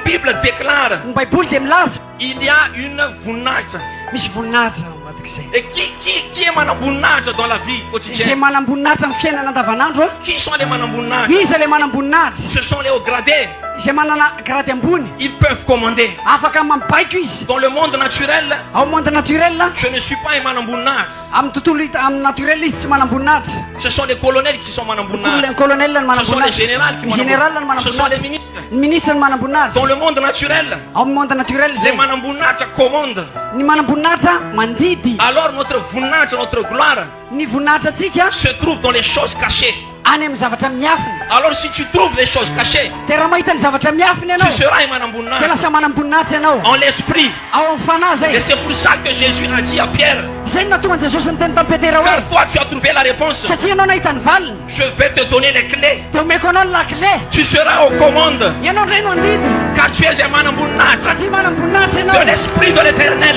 Bible déclare. Ny Baiboly dia milaza. Il y a une voninahitra. Misy voninahitra ao anatin'izay. Et qui qui qui est manam-boninahitra dans la vie quotidienne? Izay manam-boninahitra amin'ny fiainana andavanandro. Qui sont les manam-boninahitra? Iza ilay manam-boninahitra? Ce sont les hauts gradés. Izay manana grade ambony. Ils peuvent commander. Afaka mambaiko izy. Dans le monde naturel. Ao monde naturel. Je ne suis pas un manam-boninahitra. Amin'ny tontolo hita amin'ny naturel izy tsy manamboninahitra. Ce sont les colonels qui sont manamboninahitra. Ny colonel no manamboninahitra. Ce sont les générales qui manamboninahitra. Ce sont les ministres. Ny ministre no manamboninahitra. Dans le monde naturel. Ao amin'ny monde naturel zay. Le manamboninahitra commande. Ny manamboninahitra mandidy. Alors notre voninahitra, notre gloire. Ny voninahitra antsika. Se trouve dans les choses cachées. any amin'ny zavatra miafina. Alors si tu trouves les choses cachées. Dia raha mahita ny zavatra miafina ianao. Tu seras un manamboninahitra. Dia lasa manamboninahitra ianao. En l'esprit. Ao amin'ny fanahy izay. Et c'est pour ça que Jésus a dit à Pierre. Izay no nahatonga Jesosy niteny tamin'i Petera hoe. Car toi tu as trouvé la réponse. Satria ianao nahita ny valiny. Je vais te donner les clés. Dia omeko anao ny lakile. Tu seras aux commandes. Ianao indray no handidy. Car tu es un manamboninahitra. Satria manamboninahitra ianao. De l'esprit de l'Éternel.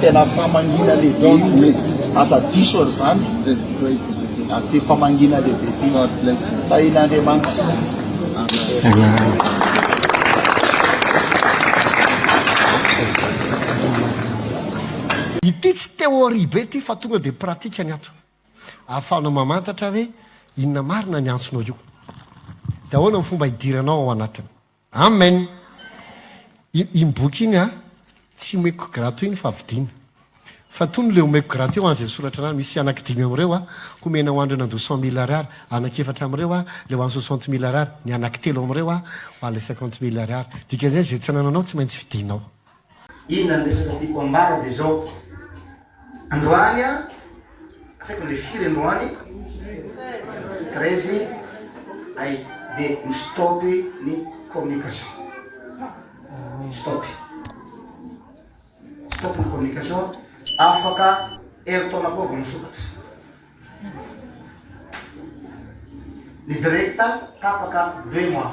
Tena famangiana lehibe io. Aza diso an'izany. Aty famangiana lehibe ity. Tahian'Andriamanitra. Ity tsy théorie be ity fa tonga dia pratique ny ato. Ahafahanao mamantatra hoe inona marina ny antsonao io. Dia ahoana ny fomba hidiranao ao anatiny. Amen! Iny boky iny an, tsy omeko grato iny fa vidiana. Fa tony ilay omeko grato eo an, izay soratra anarany, misy anaky dimy amin'ireo an, homena ho an'ireo nandoa cent mille ariary, anaky efatra amin'ireo an, ilay ho an'ny soixante mille ariary, ny anaky telo amin'ireo an, ho an'ilay cinquante mille ariary. Dikan'izay, izay tsy anananao, tsy maintsy vidianao. Inona ny resaka tiako ambara dia izao, androany an, tsy haiko le firy androany, treize ay dia mi-stop ny communication, stop, stop ny communication, afaka herintaona koa vao misokatra, ny direct tapaka deux mois.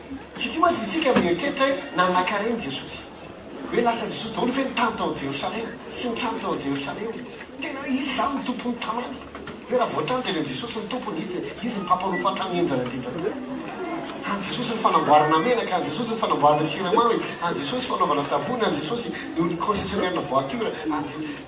Tsy ity mantsy isika mieritreritra hoe nanankarena i Jesosy. Hoe lasa Jesosy daholo ve ny tany tao Jerosalema sy ny trano tao Jerosalema? Tena hoe izy izany no tompon'ny tanàna. Hoe raha voatrano dia avy amin'i Jesosy ny tompony, izy izy ny mpampanofa hatramin'ny henjana indrindra teo. An'i Jesosy ny fanamboarana menaka, an'i Jesosy ny fanamboarana siramamy, an'i Jesosy fanaovana savony, an'i Jesosy ny concessionnaire-na voiture, an'i.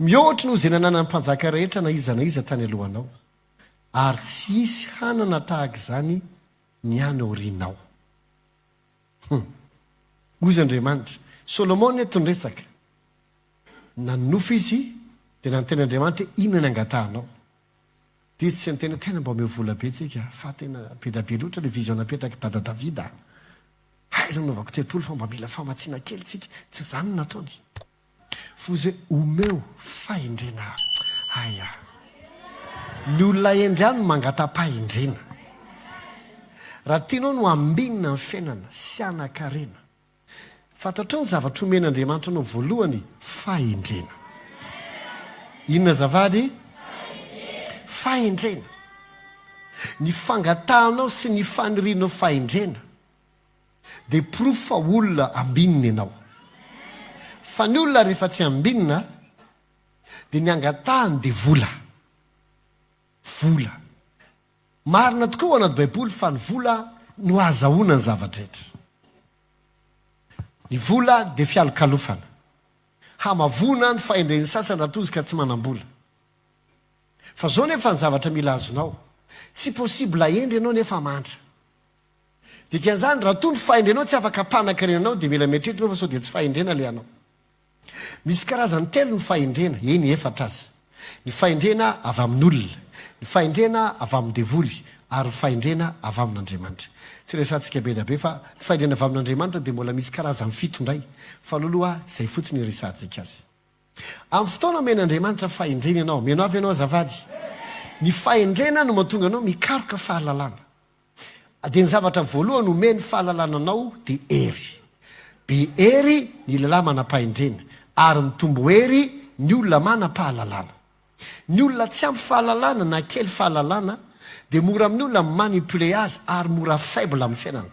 Mihoatra noho izay nananan'ny mpanjaka rehetra na iza na iza tany alohanao, ary tsy hisy hanana tahaka izany ny any aorianao. Hum. Hoy izy Andriamanitra. Solomona eto no resaka. Nanonofy izy, dia nanontany Andriamanitra hoe, Inona ny angatahanao? Dia izy tsy niteny hoe, Tena mba omeo vola be tsika, fa tena be da be loatra ilay vision napetrak'i Dada Davida. Hay aza nanaovako telopolo fa mba mila famatsiana kely tsika. Tsy izany no nataony. Voze omeo fahendrena ahy aho. Ny olona hendry ahy no mangata-pahendrena. Raha tianao ny ho ambinina ny fiainana sy hanan-karena, fantatrao ny zavatra omen'Andriamanitra anao voalohany, fahendrena. Inona azafady? Fahendrena. Ny fangatahanao sy ny fanirianao fahendrena. Dia porofo fa olona ambinina ianao. Fa ny olona rehefa tsy ambinina dia ny angatahany dia vola. Vola. Marina tokoa ao anaty baiboly fa ny vola no ahazahoana ny zava-drehetra. Ny vola dia fialokalofana. Hamavoana ny fahendren'ny sasany raha toa izy ka tsy manam-bola. Fa zao nefa ny zavatra mila azonao. Tsy possible ahendry ianao nefa mandra. Dikan'izany, raha toa ny fahendrenao tsy afaka hampanan-karena anao, dia mila mieritreritra ianao fa sao dia tsy fahendrena ilay anao. Misy karazany telo ny fahendrena, eny, efatra aza, ny fahendrena avy amin'olona, ny fahendrena avy amin'ny devoly, ary ny fahendrena avy amin'Andriamanitra. Tsy resahantsika be dia be fa ny fahendrena avy amin'Andriamanitra dia mbola misy karazany fito indray, fa aloha aloha izay fotsiny iresahantsika azy. Amin'ny fotoana omen'Andriamanitra fahendrena ianao, mino avy ianao azafady? Ny fahendrena no mahatonga anao mikaroka fahalalana. Dia ny zavatra voalohany omeny fahalalana anao dia hery. Be hery ny lehilahy manam-pahendrena, ary mitombo hery ny olona manam-pahalalana. Ny olona tsy ampy fahalalana na kely fahalalana dia mora amin'ny olona mi-manipuler azy ary mora faible amin'ny fiainana.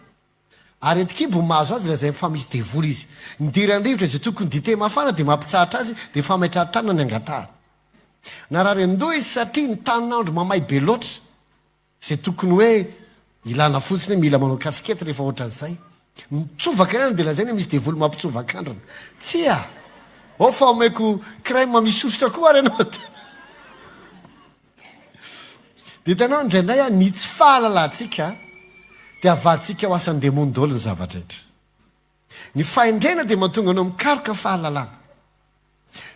Aretin-kibo mahazo azy lazainy fa misy devoly izy. Midera ny rivotra izay tokony dite mafana dia mampitsahatra azy dia fametrahan-tanana ny angatahany. Narary an-doha izy satria ny tanin'andro mamay be loatra. Izay tokony hoe ilana fotsiny hoe mila manao casquette rehefa ohatran'izay. Mitsovaka ihany dia lazaina hoe misy devoly mampitsovak'andrana. Tsia! Ao fa omeko crème misy sosotra koa ary ianao dia. Dia hitanao indraindray an, ny tsy fahalalantsika dia havahantsika ho asan'ny demony daholo ny zava-drehetra. Ny fahendrena dia mahatonga anao mikaroka fahalalana.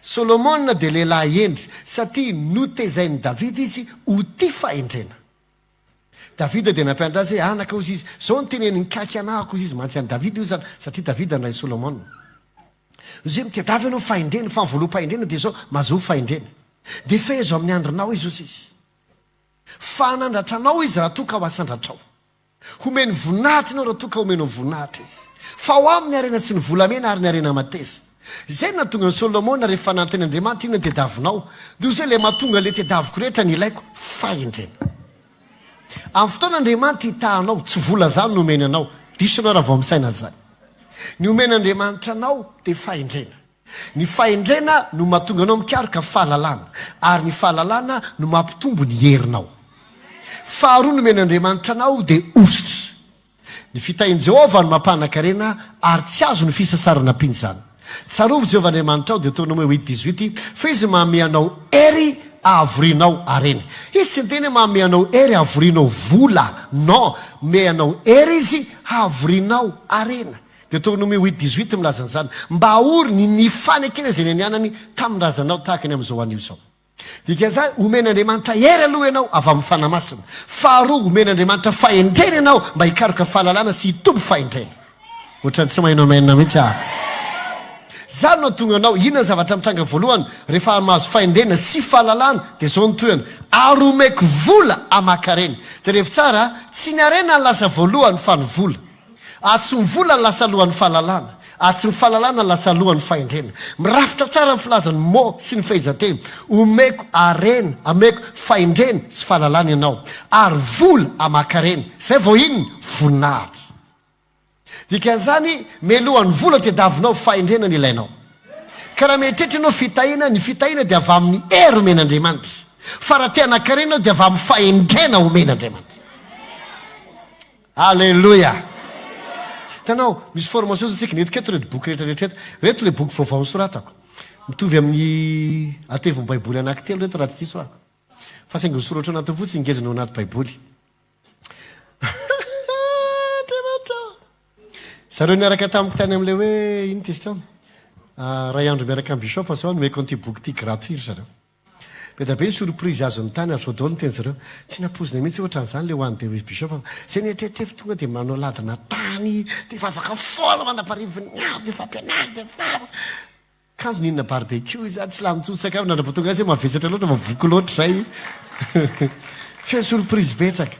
Solomona dia lehilahy hendry, satria notezain'i Davida izy ho tia fahendrena. Davida dia nampianatra azy hoe, Anaka, hozy izy, izao no teneniny, Nikaky anà aho, hozy izy, mantsy an'i Davida io izany, satria Davida no rain'i Solomona. Hozy izy, Mitadiava ianao fahendrena, fa ny voaloham-pahendrena dia izao, Mazoa fahendrena. Dia fehezo amin'ny andrinao izy, hozy izy, fa hanandratra anao izy raha toa ka ho asandratrao. Homeny voninahitra ianao raha toa ka omenao voninahitra izy. Fa ao aminy ny harena sy ny volamena ary ny harena mateza. Izay no nahatonga an'i Solomona rehefa nanontany Andriamanitra inona ny tediavinao? Dia hoy izy hoe ilay mahatonga ilay tediaviko rehetra ny ilaiko, fahendrena. Amin'ny fotoana Andriamanitra hitaha anao, tsy vola izany no omeny anao. Diso ianao raha vao misaina an'izany. Ny omena Andriamanitra anao dia fahendrena. Ny fahendrena no mahatonga anao mikaroka fahalalana, ary ny fahalalana no mampitombo ny herinao. Faharoa nomen'Andriamanitra anao dia hosotra. Ny fitahian'i Jehovah no mampanan-karena, ary tsy azo ny fisasarana mpinzana. Tsarovy Jehovah Andriamanitrao, Deoteronome huit dix huit, fa izy manome anao hery hahavorinao harena. Izy tsy niteny hoe manome anao hery hahavorinao vola. Non, manome anao hery izy hahavorinao harena. Deoteronome huit dix huit milaza an'izany, Mba ahory ny nifanekena izay nianianany tamin'ny razanao tahaka ny amin'izao anio izao. Dikan'izany, omen'Andriamanitra hery aloha ianao avy amin'ny Fanahy Masina. Faharoa, omen'Andriamanitra fahendrena ianao mba hikaroka fahalalana sy hitombo fahendrena. Ohatran'ny tsy maheno amen mihitsy aho. Izany no hahatonga anao, inona ny zavatra mitranga voalohany rehefa mahazo fahendrena sy fahalalana? Dia izao no tohiny, Ary omeko vola hamaky harena. Jerevo tsara, tsy ny harena no lasa voalohany fa ny vola. Atsy ny vola no lasa lohan'ny fahalalana, atsy ny fahalalana no lasa lohan'ny fahendrena. Mirafitra tsara ny filazan'ny mo sy ny fehezanteny, Omeko harena, ameko fahendrena sy fahalalana ianao, ary vola aman-karena. Izay vao inona? Voninahitra. Dikan'izany, mialoha ny vola tadiavinao, fahendrena no ilainao. Ka raha mieritreritra ianao fitahiana, ny fitahiana dia avy amin'ny hery omen'Andriamanitra. Fa raha te hanan-karena ianao dia avy amin'ny fahendrena omen'Andriamanitra. Aleloia! Hitanao, misy formation izao tsika. Eto ireto boky rehetra rehetra eto. Ireto ilay boky vaovao nosoratako. Mitovy amin'ny ateviny Baiboly anankitelo ireto raha tsy diso aho. Fa saingy ny soratra ao anatiny fotsiny ngezina ao anaty Baiboly. Andriamanitra ô! Zareo niaraka tamiko tany amin'ilay hoe, inona izy teo? Ah, iray andro miaraka amin'ny bishop zao, nomeko an'ity boky ity gratuit ry zareo. Be da be ny surprise azony tany ary sao daholo ny teny zareo. Tsy nampoizina mihitsy hoe otran'izany le hoany Dewey's Bishop fa zay neritreritrevo tonga de manao ladina tany de efa afaka foana mandra-parivo ny andro de efa mpianary de efa kanjo nihinana barbecue izany tsy lany intsony sakafo nandra vao tonga azy hoe mavesatra loatra fa voky loatra izay feno surprise betsaka.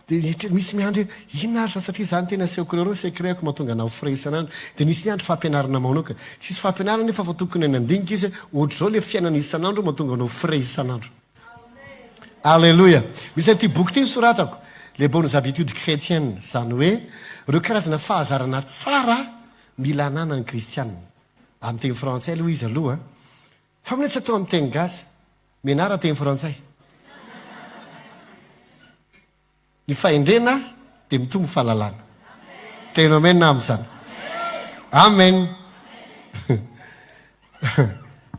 Dia rehetra misy miandry hoe inona ary izany satria izaho no tena asehoko ireo ireo ny secret-ko mahatonga anah ho frais isan'andro. Dia nisy niandry fampianarana maonoka. Tsisy fampianarana nefa fa tokony any handinika izy hoe ohatr'izao ilay fiainana isan'andro mahatonga anao ho frais isan'andro. Aleloia! Misy an'ity boky ity nosoratako, Les bonnes habitudes chretiennes, izany hoe ireo karazana fahazarana tsara mila hananan'ny kristiana. Amin'ny teny frantsay aloha izy aloha. Fa mihitsy atao amin'ny teny gasy. Menara teny frantsay. Ny fahendrena dia mitombo fahalalana. Miteny amen aho amin'izany. Amen.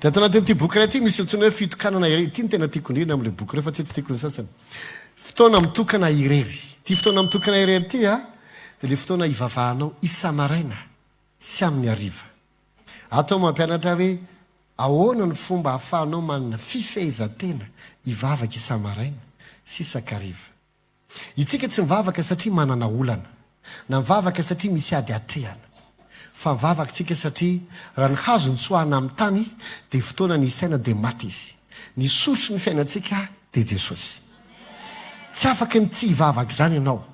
Dia ato anatin'ity boky iray ity misy antsoina hoe fitokanana irery. Ity no tena tiako indrindra amin'ilay boky ireo fa tsy hoe tsy tiako ny sasany. Fotoana mitokana irery. Ity fotoana mitokana irery ity dia ilay fotoana hivavahanao isa-maraina sy amin'ny hariva. Ato aho mampianatra hoe ahoana ny fomba ahafahanao manana fifehezan-tena hivavaka isa-maraina sy isa-kariva. Itsika tsy mivavaka satria manana olana, na mivavaka satria misy ady atrehana. Fa mivavaka tsika satria raha ny hazo nitsoahana amin'ny tany dia fotoana ny hisaina dia maty izy. Ny soritry ny fiainantsika dia Jesosy. Tsy afaka ny tsy hivavaka izany ianao.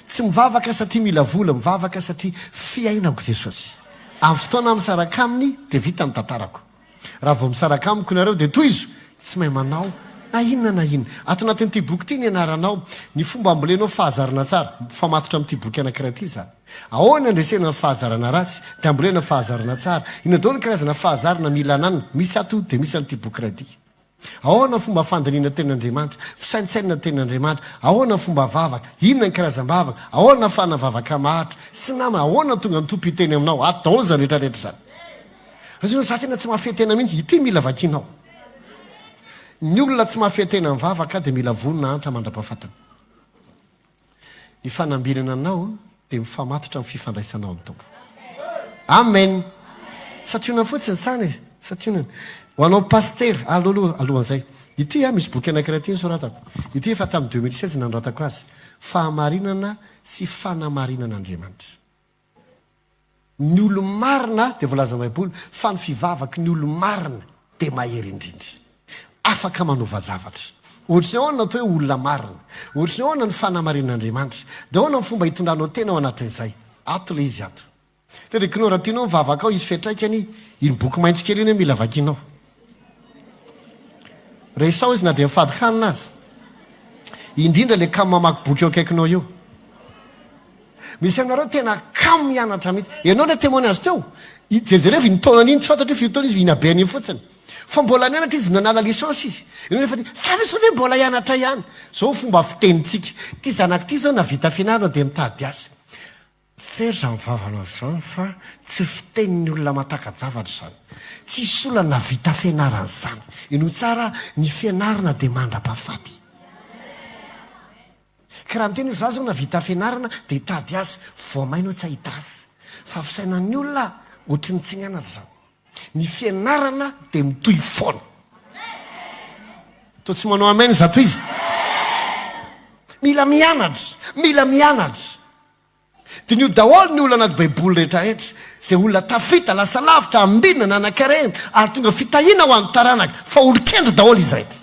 Tsy mivavaka satria mila vola, mivavaka satria fiainako Jesosy. Amin'ny fotoana aho misaraka Aminy dia vita ny tantarako. Raha vao misaraka Amiko ianareo dia tohizo, tsy mahay manao na inona na inona. Ato anatin'ity boky ity ny anaranao, ny fomba ambolenao fahazarana tsara. Mifamatotra amin'ity boky anankiray ity izany. Ahoana andresena ny fahazarana ratsy dia ambolena fahazarana tsara. Inona daholo ny karazana fahazarana mila ananana? Misy ato dia misy an'ity boky iray ity. Ahoana ny fomba fandinihana ny tenin'Andriamanitra? Fisaintsainana ny tenin'Andriamanitra. Ahoana ny fomba vavaka? Inona ny karazam-bavaka? Ahoana ahafahana vavaka maharitra? Sy namana, ahoana no tonga ny Tompo hiteny aminao? Ato daholo izany rehetrarehetra izany. Rajoelina, za tena tsy mahafehy tena mihitsy. Ity mila vakinao. Ny olona tsy mahafehy tena mivavaka dia mila vonona hahantra mandra-pahafatiny. Ny fanambinana anao dia mifamatotra amin'ny fifandraisanao amin'ny Tompo. Amen. Santionany fotsiny sana e. Santionany. Ho anao pasitera, allo aloha alohan'izay. Ity a, misy boky anankiray ity nosoratako. Ity efa tamin'ny 2016 nanoratako azy. Fahamarinana sy fanamarinan'Andriamanitra. ny olo-marina dia voalazan'ny Baiboly fa ny fivavaky ny olo-marina dia mahery indrindra. Afaka manova zavatra. Ohatry ny ahoana ny atao hoe olona marina? Ohatry ny ahoana ny fanamarian'Andriamanitra? Dia ahoana ny fomba hitondranao tena ao anatin'izay? Ato ilay izy ato. Teddy Knorr raha tianao ny vavakao hisy fiantraikany iny boky maitso kely iny mila vakianao. Resaho izy na dia mifady hanina aza. Indrindra ilay kamo mamaky boky eo akaikinao io. Misy aminareo tena kamo mianatra mihitsy. Ianao ilay témoin azy teo. Jerijereo iny taonany iny, tsy fantatro hoe firy taona izy, iny abeany iny fotsiny. Fa mbola nianatra izy, nanala licence izy. Ianao nefa dia, sa ve sao ve mbola hianatra ihany? Izao ny fomba fitenintsika. Ity zanak'ity izao nahavita fianarana dia mitady asa. Tsy hery izany vavanao izany fa tsy fitenin'ny olona matakajavatra izany. Tsisy olona nahavita fianarana izany. Inoa tsara aho, ny fianarana dia mandra-pahafaty. Ka raha miteny hoe za zao nahavita fianarana dia hitady azy, voamaina aho tsy hahita azy. Fa fisainan'ny olona ohatry ny tsy nianatra izany. Ny fianarana dia mitohy foana. Toa tsy manao amen zato izy. Mila mianatra, mila mianatra. Diniho daholo ny olana anaty Baiboly rehetrarehetra. Izay olona tafita, lasa lavitra, ambinina, nanan-karena, ary tonga fitahiana ho an'ny taranaka, fa olon-kendry daholo izy rehetra.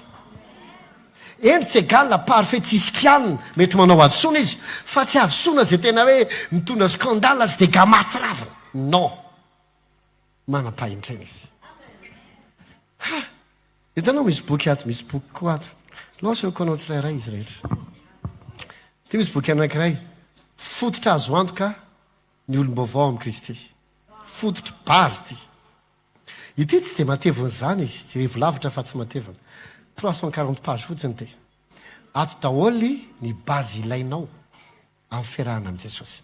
Hendry tsy égal, parfait tsy hisy kianina, mety manao hadisoana izy, fa tsy hadisoana izay tena hoe mitondra scandale sy dégâts mahatsiravina. Non. manam-pahendrena izy. Ha! Hitanao misy boky ato, misy boky koa ato. Lao asehoko anao tsirairay izy rehetra. Ity misy boky anankiray. Fototra azo antoka ny olom-baovao amin'i Kristy. Fototra, base ity. Ity tsy dia matevina izany izy, jerevo lavitra fa tsy matevina. 340 page fotsiny ity. Ato daholo ny base ilainao. amin'ny fiarahana amin'i Jesosy.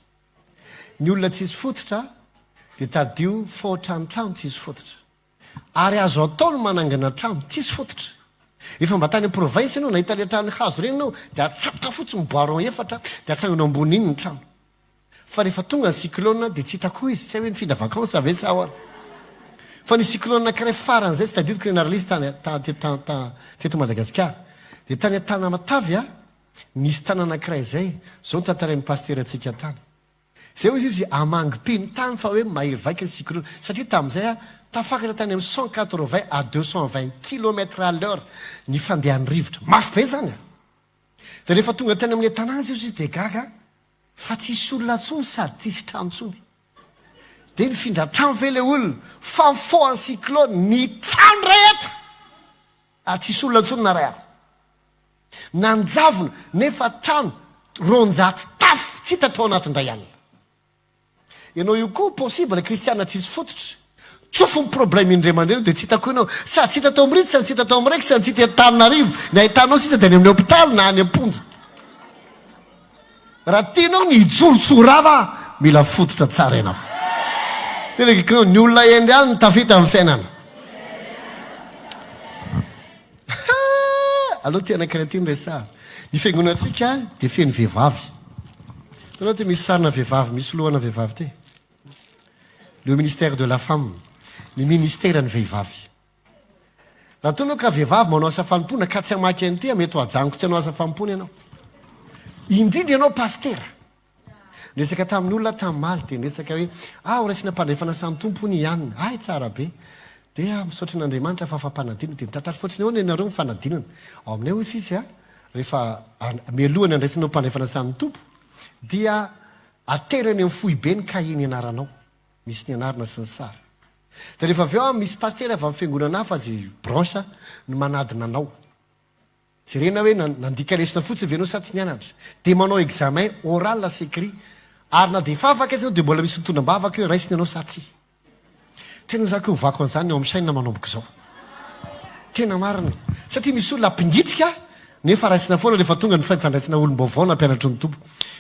Ny olona tsy hisy fototra dia tadidio fao tranotrano tsy hisy fototra. Ary azo atao ny manangana trano tsisy fototra. Efa mba tany am-province ianao, nahita ilay trano hazo ireny ianao, dia atsatoka fotsiny ny boiron efatra, dia atsangano ambonin'iny ny trano. Fa rehefa tonga ny cyclone dia tsy hita koa izy, tsy hay hoe nifindra vacances ve sa ahoana. Fa nisy cyclone anankiray faran'izay, tsy tadidiko ilay naralisy tany, teto Madagasikara. Dia tany Antanamatavy aho. Nisy tany anankiray izay, izao no tantarain'ny pasitera antsika tany. Izay hoy izy, hamangy peny tany fa hoe mahery vaika ny cyclone. Satria tamin'izay aho, tafakatra tany amin'ny cent quatre-vingts à deux cent vingt kilomètres à l'heure ny fandehan'ny rivotra. Mafy be izany an! Dia rehefa tonga tany amin'ilay tanàna izay hoy izy dia gaga fa tsisy olona intsony sady tsisy trano intsony. Dia nifindra trano ve ilay olona? Fa nifoha ny cyclone, ny trano rehetra! Ary tsisy olona intsony naray afo. Nanjavona, nefa trano roanjato tafo tsy hita tao anaty indray alina. Ianao io koa possible kristiana tsisy fototra. Tsofy ny problème indray mandeha aloha dia tsy hita koa ianao. Sady tsy hita tao Mritsy, sady tsy hita tao Mrex, sady tsy hita eto Tananarivo. Ny ahitanao sisa dia any amin'ny hôpitaly na any am-ponja. Raha tianao ny hijoro tsy ho rava mila fototra tsara ianao. Telegrknao ny olona hendry any no tafita amin'ny fiainana. Haa! Aleo ity anankiray ity no resahana. Ny fiangonantsika dia feno vehivavy. Hitanao ity misy sarina vehivavy, misy lohana vehivavy ity. Le ministère de la femme, ny ministeran'ny vehivavy. Raha toa ianao ka vehivavy manao asa fanompoana ka tsy hamaky NT, mety ho ajanoko tsy hanao asa fanompoana ianao. Indrindra ianao pasitera. Niresaka tamin'ny olona aho tamin'ny omaly dia niresaka hoe, ah horaisina am-pandrefana asan'ny Tompo hono i Anne. Hay tsara be. Dia misaotra an'Andriamanitra fa fampanadinana. Dia nitatatra fotsiny ahoana ianareo ny fanadinana. Ao aminay hozy izy an, rehefa mialoha ny handraisana ho mpandrefana asan'ny Tompo dia aterany amin'ny foibe ny kahie nianaranao. Misy ny anarana sy ny sary. Dia rehefa avy eo an, misy pasitera avy amin'ny fiangonana hafa izay branche no manadina anao. Jerena hoe na nandika lesona fotsiny ve ianao sa tsy nianatra. Dia manao examen oral sy écrit. Ary na dia efa afaka aza ianao dia mbola misy mitondra am-bavaka hoe raisina ianao sa tsia. Tena za koa hovako an'izany ny eo amin'ny chaîne manomboka izao. Tena marina. Satria misy olona mpingitrika nefa raisina foana rehefa tonga ny fifandraisana olom-baovao na mpianatry ny Tompo.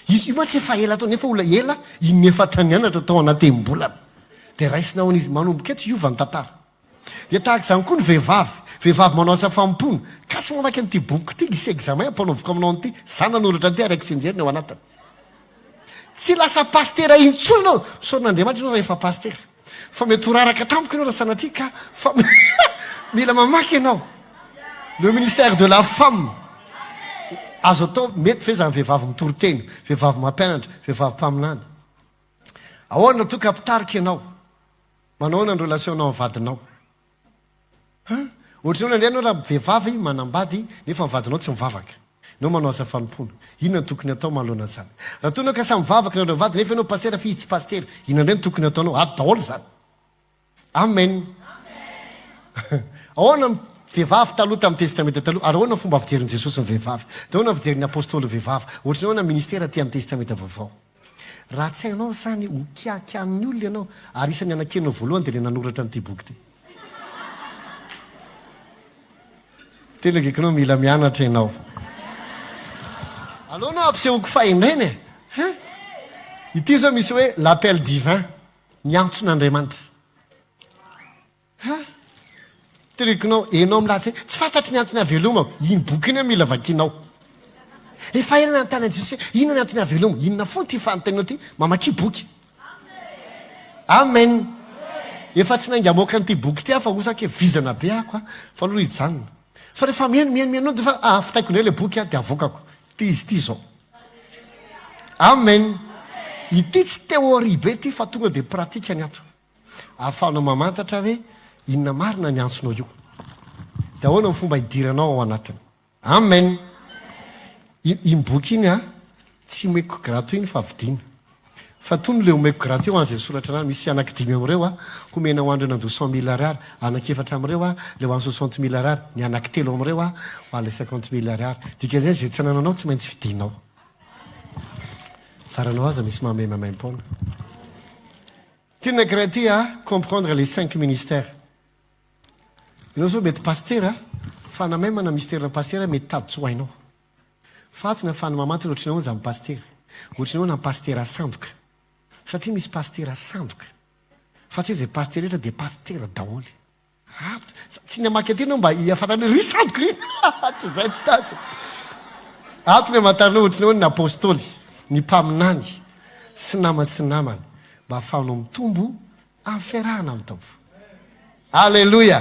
Izy io mantsy efa ela tao nefa olona ela inona efa ta nianatra tao anatem-bolana. Dia raisina ahoana izy? Manomboka eto hiova ny tantara. Dia tahaka izany koa ny vehivavy. Vehivavy manao asa fanompoana. Kase mamaky an'ity bokiko ity, hisy examen ampanaoviko aminao an'ity. Za nanoratra an'ity ary haiko sinjeriny ao anatiny. Tsy lasa pasitera intsony ianao. Misaotra an'Andriamanitra ianao raha efa pasitera. Fa mety ho raraka tampoka ianao raha sanatria ka fa mila mamaky ianao le ministère de la femme azo atao mety ve zany vehivavy mitory tena vehivavy mampianatra vehivavy mpaminany ahoana toa ka mpitarika ianao manao ahoana ny relation nao amin'ny vadinao Ha! Ohatran'ny hoe nandeha ianao raha vehivavy manambady nefa ny vadinao tsy mivavaka. Ianao manao asa fanompoana. Inona no tokony hatao manoloana an'izany? Raha toa ianao ka samy mivavaka nareo mivady nefa ianao pasitera f'izy tsy pasitera, inona indray no tokony hataonao? Ady daholo izany. Amen. Ahoana ny vehivavy taloha tamin'ny Testamenta Taloha ary ahoana ny fomba fijerin'i Jesosy ny vehivavy? Dia ahoana ny fijerin'ny apostoly ny vehivavy? Ohatran'ny hoe ahoana ny ministera aty amin'ny Testamenta Vaovao? Raha tsy hainao izany, ho kiakian'ny olona ianao, ary isan'ny hanakianao voalohany dia ilay nanoratra an'ity boky ity. Tena gekonao, mila mianatra ianao. Aleo aloha ampisehoako fahendrena e! Hein? Ity izao misy hoe L'appel divin, Ny antson'Andriamanitra. Ha! Tilikonao, enao milaza hoe tsy fantatro ny antony hahavelomako. Iny boky iny hoe mila vakianao. Efa ela nanontanian'i Jesosy hoe inona ny antony hahavelomako. Inona fona ity fanontanianao ity? Mamakia boky. Amen! Efa tsy nainga hamoaka an'ity boky ity aho fa osa ange vizana be ako an! Fa aloha hijanona. Fa rehefa mihaino, mihaino, mihaino dia efa hafitaiko indray ilay boky an, dia havoakako. Ity izy ity izao. Amen! Ity tsy théorie be ity fa tonga dia pratikany ato. Ahafahanao mamantatra hoe inona marina ny antsonao io. Dia ahoana ny fomba hidiranao ao anatiny. Amen! Iny iny boky iny a, tsy omeko grato iny fa vidiana. Fa tony ilay omeko grato eo an, izay soratra anarany, misy anaky dimy amin'ireo a, homena ho an'ireo nandoa cent mille ariary, anaky efatra amin'ireo a, ilay ho an'ny soixante mille ariary, ny anaky telo amin'ireo a, ho an'ilay cinquante mille ariary. Dikan'izay, izay tsy anananao tsy maintsy vidianao. Zaranao aza misy mahamay maimaim-poana. Tena gratter à comprendre les cinq ministères. Ianao zao mety pasitera fanamaimana ny misterina pasitera mety tady tsy ho hainao. Faty na fanamamantana ohatry ny ahoana izany pasitera? Ohatry ny ahoana ny pasitera sandoka? Satria misy pasitera sandoka. Fa tsy hoe izay pasitera rehetra dia pasitera daholo. Ato, tsy ny hamaky andiana aho mba hihafanana hoe ry sandoka ry! Tsy izay no tanjona. Ato ny hamantarana ohatra ny hoe ny Apostoly, ny mpaminany sy namany sy namana mba hahafahanao mitombo amin'ny fiarahana amin'ny Tompo. Aleloia!